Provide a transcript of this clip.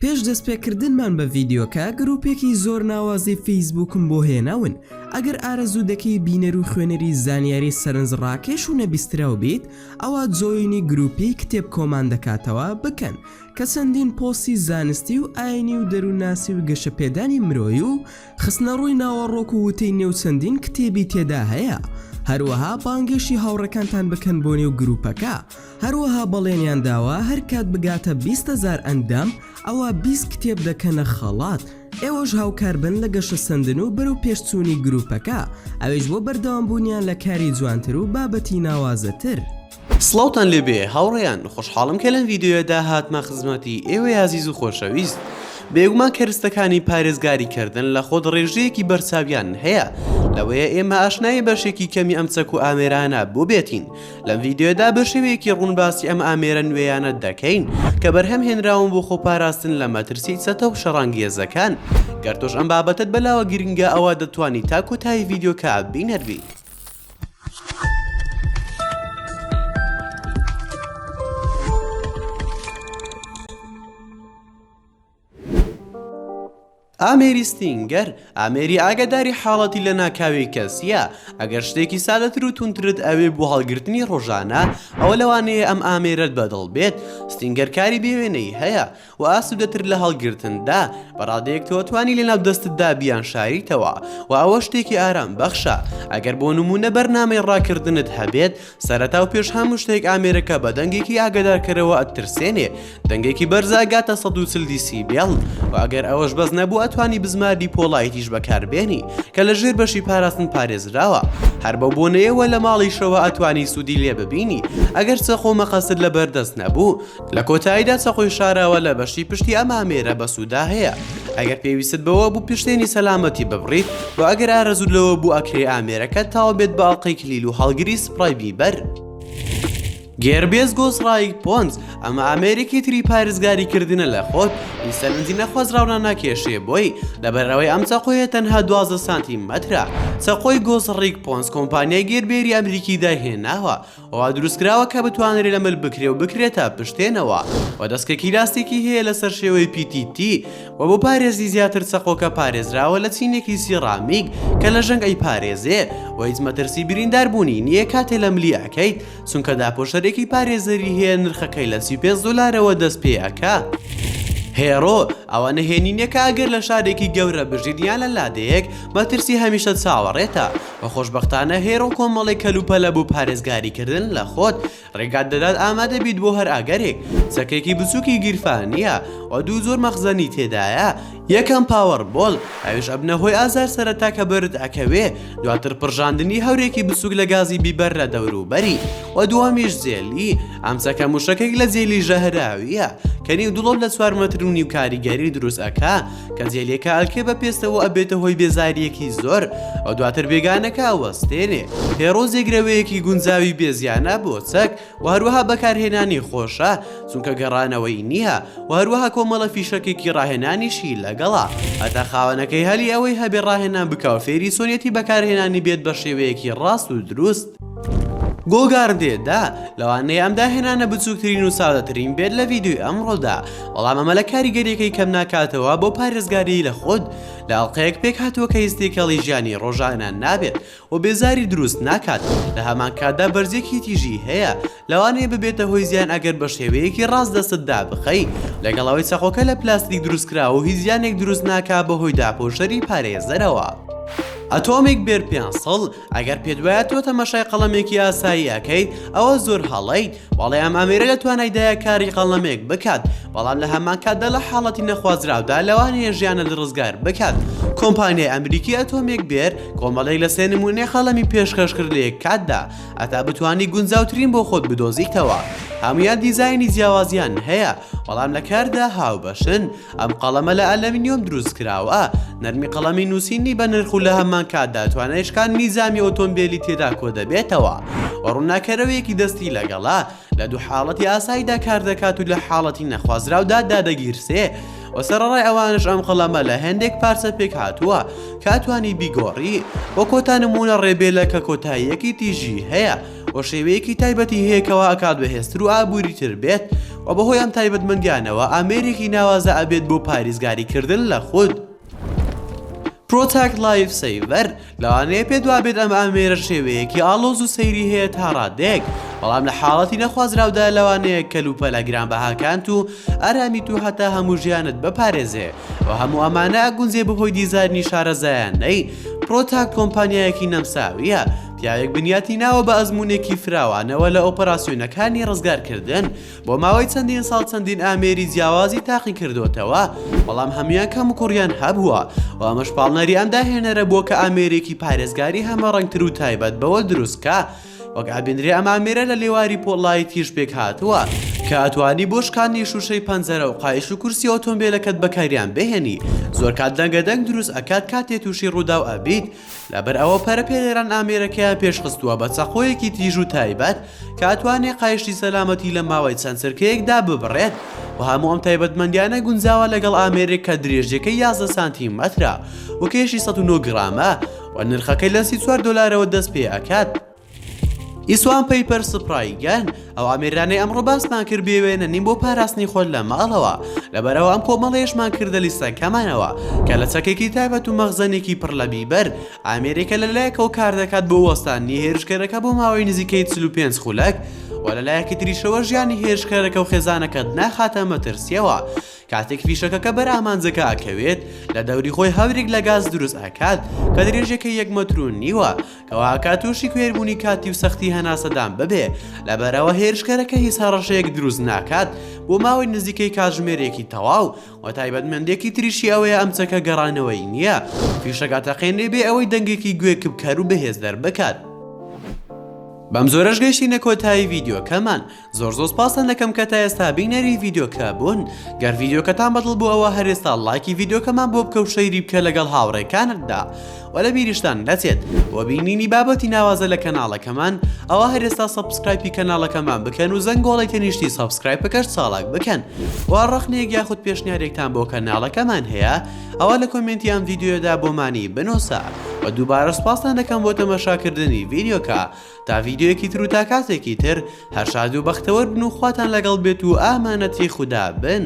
پێش دەستپێکردنمان بە ڤیدیۆکە گروپێکی زۆر ناوازەی فەیسبوکم بۆ هێناون ئەگەر ئارەزوو دەکەی بینەر و خوێنەری زانیاری سەرنج ڕاکێش و نەبیستراو بیت ئەوا جۆینی گروپی کتێب کۆمان دەکاتەوە بکەن کە چەندین پۆسی زانستی و ئاینی و دەروونناسی و گەشەپێدانی مرۆی و خستنە ڕووی ناوەڕۆک و وتەی نێو چەندین کتێبی تێدا هەیە هەروەها بانگێشی هاوڕەکانتان بکەن بۆ نێو گروپەکە هەروەها بەڵێنیان داوە هەر کات بگاتە بیست هەزار ئەندام ئەوا بیست کتێب دەکەنە خەڵات ئێوەش هاوکار بن لە گەشەسەندن و بەرەو پێشچوونی گروپەکە ئەویش بۆ بەردەوام بوونیان لە کاری جوانتر و بابەتی ناوازەتر. سڵاوتان لێبێ هاوڕێیان خۆشحاڵم کە لەم ڤیدیۆیەدا هاتمە خزمەتی ئێوەی ئازیز و خۆشەویست بێگومان کەرستەکانی پارێزگاری کردن لە خۆدڕێژەیەکی بەرچاویان هەیە لەوەیە ئێمە ئاشنای بەشێکی کەمی ئەم چەک و ئامێرانە بۆ بێتین لەم ڤیدیۆدا بە شێوەیەکی ڕوون باسی ئەم ئامێرە نوێیانە دەکەین کە بەرهەم هێنراون بۆ خۆپاراستن لە مەترسی چەتە و شەڕانگێزەکان گەر تۆش ئەم بابەتت بەلاوە گرنگە ئەوە دەتوانی تا کۆتایی ڤیددیوکە بینەربی. ئامێری ستینگەر، ئامێری ئاگاداری حاڵەتی لەناکاوی کەس، ە، ئەگەر شتێکی سادەتر و توندترت ئەوێ بۆ هەڵگرتنی ڕۆژانە، ئەوە لەوانەیە ئەم ئامێرەت بەدڵ بێت، ستینگەر کاری بێ وێنەی هەیە و ئاسوودەتر لە هەڵگرتندا، بە ڕادەیەک تۆتوانی لەناو دەستتدا بیانشاریتەوە و ئەوە شتێکی ئارامبەخشە، ئەگەر بۆ نموونە بەرنامەی ڕاکردنت هەبێت، سەرەتا و پێش هەموو شتێک ئامێرەکە بە دەنگێکی ئاگدارکەرەوە ئەترسێنێ دەنگێکی بەرزە ئەگاتە 140 دیسی بێڵ و ئەگەر ئەوەش بەس نەبوو ئەتوانی بزماری پۆڵایتیش بەکاربێنی کە لە ژێر بەشی پاراستن پارێزراوە هەر بەو بۆنەیەوە لە ماڵیشەوە ئەتوانی سوودی لێ ببینی ئەگەر چەقۆ مەقەست لە بەردەست نەبوو لە کۆتاییدا چەقۆی شاراوە لە بەشی پشتی ئەم ئامێرە بەسوودا هەیە ئەگەر پێویستت بەوە بوو پشتێنی سەلامەتی ببڕیت و ئەگەر ئارەزووت لەوە بوو ئەکرێ ئامێرەکەت تاو بێت بە ئەڵقەی کلیل و هەڵگری سپڕای بیبەر. گێربێس گۆسڕایگ پۆنس ئەمە ئامێرێکی تری پارێزگاری کردنە لە خۆت ی سەرنجی نەخوازراو ناناکێشێ بۆی لەبەر ئەوەی ئەم چەقۆیە تەنها دوازدە سانتی مەترە چەقۆی گۆسڕیگ پۆنس کۆمپانیای گێربێری ئەمریکی دایهێناوە وا دروستکراوە کە بتوانرێ لە مل بکرێ و بکرێتە پشتێنەوە و دەسکەکی لاستیکی هەیە لەسەر شێوەی PTT و بۆ پارێزی زیاتر چەقۆکە پارێزراوە لە چینێکی سیڕامیک کە لە ژەنگ ئەیپارێزێ و هیچ مەترسی بریندار بوونی نییە کاتێ لە ملی ئەکەیت چونکە داپۆشەرێکی پارێزەری هەیە نرخەکەی لە 35 دۆلارەوە دەست پێ ئەکا. هێرۆ، ئەوە نهێنییەکە ئەگەر لە شارێکی گەورە بژیت یان لە لادێیەک، مەترسی هەمیشە چاوەڕێتە، و خۆشبەختانە هێر و کۆمەڵی کەلوپەلە بۆ پارێزگاری کردن لە خۆت ڕێگات دەدات ئامادە بیت بۆ هەر ئاگەرێک چەکێکی بچووکی گیرفانییە و دوو جۆر مەخزەنی تێدایە یەکەم پاوەڕ بۆڵ ئەویش ئەبنە هۆی ئازار سەرەتا کە بەرد ئەکەوێ دواتر پڕژاندنی هەورێکی بچووک لە گازی بیبەر لە دەوروبەری و دووەمیش جێلی ئەم چەکە موشەکێک لە جێلی ژەهراوییە کە نیو دڵۆپ لە چوار مەتر و نیو کاریگەری دروست ئەکا کە جێلێکە ئەلکێ بە پێستەوە ئەبێتە هۆی بێزاریەکی زۆر ئەو دواتر بێگانەکە وەستێنێ هێڕۆ زێگرەوەیەکی گونجاوی بێزیانە بۆ چەک و هەروەها بەکارهێنانی خۆشە چونکە گەڕانەوەی نییە و هەروەها کۆمەڵە فیشەکێکی ڕاهێنانیشی لەگەڵا هەتا خاوەنەکەی هەلی ئەوەی هەبێ ڕاهێنان بکاو فێری سۆنیەتی بەکارهێنانی بێت بە شێوەیەکی ڕاست و دروست گۆگار دێ دا لەوانەیە ئەم داهێنانە بچووکترین و سادەترین بێت لە ڤیددیوی ئەمڕۆدا بەڵام ئەمە لە کاریگەریەکەی کەم ناکاتەوە بۆ پارێزگاری لە خۆت لە ئەڵلقەیەک پێک هاتووە کە هیستێکەڵی ژیانی ڕۆژانە نابێت و بێزاری دروست ناکات لە هەمان کاتدا بەرزێکی تیژی هەیە لەوانەیە ببێتە هۆی زیان ئەگەر بە شێوەیەکی ڕاست دەستت دابخەی لەگەڵەوەی چەقۆکە لە پلاستیک دروستکرا و هیچ زیانێک دروست ناکا بە هۆی داپۆشەری پارێزەرەوە ئەتۆمیک بێر پێ سەڵ ئەگەر پێت وایە تۆ تەماشای قەڵەمێکی ئاسایی ئەکەیت ئەوە زۆر هەڵەیت بەڵێ ئەم ئامێرە لە توانایدایە کاری قەڵەمێک بکات بەڵام لە هەمان کاتدا لە حاڵەتی نەخوازراودا لەوانەیە ژیانت ڕزگار بکات کۆمپانیای ئەمریکی ئەتۆمێک بێر کۆمەڵێک لە سێ نمونەی قەڵەمی پێشکەش کرد لە یەک کاتدا ئەتا بتانی گونجاوترین بۆ خۆت بدۆزیتەوە هەموان دیزاینی جیاوازیان هەیە بەڵام لە کاردا هاوبەشن ئەم قەڵەمە لە ئەلەمنیۆم دروستکراوە، نەرمی قەڵەمی نووسینی بەنرخ و لەهەمانکاتدا توانای شکاندنی جامی ئۆتۆمبێلی تێدا کۆدەبێتەوە و ڕووناککەرەوەیەکی دەستی لەگەڵە، لە دوو حاڵەتی ئاساییدا کاردەکات و لە حاڵەتی نەخوازراودا دادەگیرسێ و سەرەڕای ئەوانەش ئەم قەڵەمە لە هێندێک پارچە پێکهاتووە کە ئەتوانی بیگۆڕی بۆ کۆتا نموونە ڕێبێلە کە کۆتاییەکی تیژی هەیە. و شێوەیەکی تایبەتی هەیە کەوا ئەکات بەهێزتر و ئابووریتر بێت و بەهۆی ئەم تایبەتمەندیانەوە ئامێرێکی ناوازە ئەبێت بۆ پاریزگاری کردن لە خود. Protect Life Saver لەوانەیە پێت وابێت ئەم ئامێرە شێوەیەکی ئاڵۆز و سەیری هەیە تا ڕادەیەک بەڵام لە حاڵەتی نەخوازراودا لەوانەیە کەلوپەلە گرانبەهاکانت و ئارامیت و هەتا هەموو ژیانت بپارێزێ و هەموو ئەمانە ئەگونجێ بەهۆی دیزاینی شارەزایانەی Protect کۆمپانیایەکی نەمساویە پیاوێک بنیاتی ناوە بە ئەزموونێکی فراوانەوە لە ئۆپەراسیۆنەکانی ڕزگارکردن، بۆ ماوەی چەندین ساڵ چەندین ئامێری جیاوازی تاقی کردۆتەوە، بەڵام هەموویان کەموکوڕیان هەبووە و ئەمەش پاڵنەری ئەم داهێنەرە بووە کە ئامێرێکی پارێزگاری هەمەڕەنگتر و تایبەت بەوە دروست بکا وەک ئابینرێ ئەم ئامێرە لە لێواری پۆڵای تیژ پێکهاتووە کە ئەتوانی بۆ شکاندنی شوشەی پەنجەرە و قایش و کورسی ئۆتۆمبێلەکەت بەکاریان بهێنی زۆر کات دەنگە دەنگ دروست ئەکات کاتێ تووشی ڕووداو ئەبیت لەبەرئەوە پەرە پێدەران ئامێرەکەیان پێشخستووە بە چەقۆیەکی تیژ و تایبەت کە ئەتوانێ قایشتی سەلامەتی لە ماوەی چەند چرکەیەکدا ببڕێت و هەموو ئەم تایبەتمەندیانە گونجاوە لەگەڵ ئامێرێک کە درێژیەکەی یازدە سانتی مەترە و کێشی سەد و نۆ گڕامە و نرخەکەی لە سی و چوار دۆلارەوە دەست پێئەکات. ئیسوان پەیپەر سپڕای گەن ئەو ئامێرانەی ئەمڕۆ باسمان کرد بێوێنە نیم بۆ پاراستنی خۆت لە ماڵەوە لەبەرەوە ئەم کۆمەڵێشمان کردە لیستەکەمانەوە کە لە چەکێکی تایبەت و مەخزەنێکی پڕ لە بیبەر ئامێرێکە لە لایەکەوە کار دەکات بۆ وەستانی هێرشکەرەکە بۆ ماوەی نزیکەی 45 خولەک و لە لایەکی تریشەوە ژیانی هێرشکەرەکە و خێزانەکەت ناخاتە مەترسیەوە کاتێک فیشەکەکە بەر ئامانجەکە ئەکەوێت لە دەوری خۆی هەورێک لە گاز دروست ئەکات کە درێژەکە یەک مەترو نیوە کەوەهاکات تووشی کوێربوونی کاتی و سەختی هەناسەدان ببێ، لەبەرئەوە هێرشکەرەکە هیچ هەڕەشەیەک دروست ناکات بۆ ماوەی نزیکەی کاتژمێرێکی تەواو، و تایبەتمەندێکی تریشی ئەوەیە ئەم چەکە گەڕانەوەیی نییە، فیشەک ئەتەقێنێ بێ ئەوەی دەنگێکی گوێکپکەر و بەهێز دەربکات. بەمجۆرەش گەیشتینە کۆتایی ڤیدیۆکەمان. زۆر زۆر سپاستان دەکەم کە تا ئێستا بینەری ڤیدیۆکە بوون گەر ڤیدیۆکەتان بەدڵ بوو ئەوە هەر ئێستا ڵایکی ڤیدیۆکەمان بۆ بکە و شەیری بکە لەگەڵ هاوڕێکانتدا و لە بیریشتان نەچێت بۆ بینینی بابەتی ناوازە لە کەناڵەکەمان ئەوە هەر ئێستا سەبسکرایپی کەناڵەکەمان بکەن و زەنگۆڵی تەنیشتی سەبسکرایپ بکەش چاڵاک بکەن وا ڕەخنێک یاخود پێشنیارێکتان بۆ کەناڵەکەمان هەیە ئەوە لە کۆمنتی ئەم ڤیددیودا بۆمانی بنووسە و دووبارە سپاستان دەکەم بۆ تەمەشاکردنی ڤیدیۆکە تا ڤیدیۆیەکی تر و تا کاتێکی تر هەر شاد و بەختەوەر بن و خواتان لەگەڵ بێت و ئامانەتی خودا بن.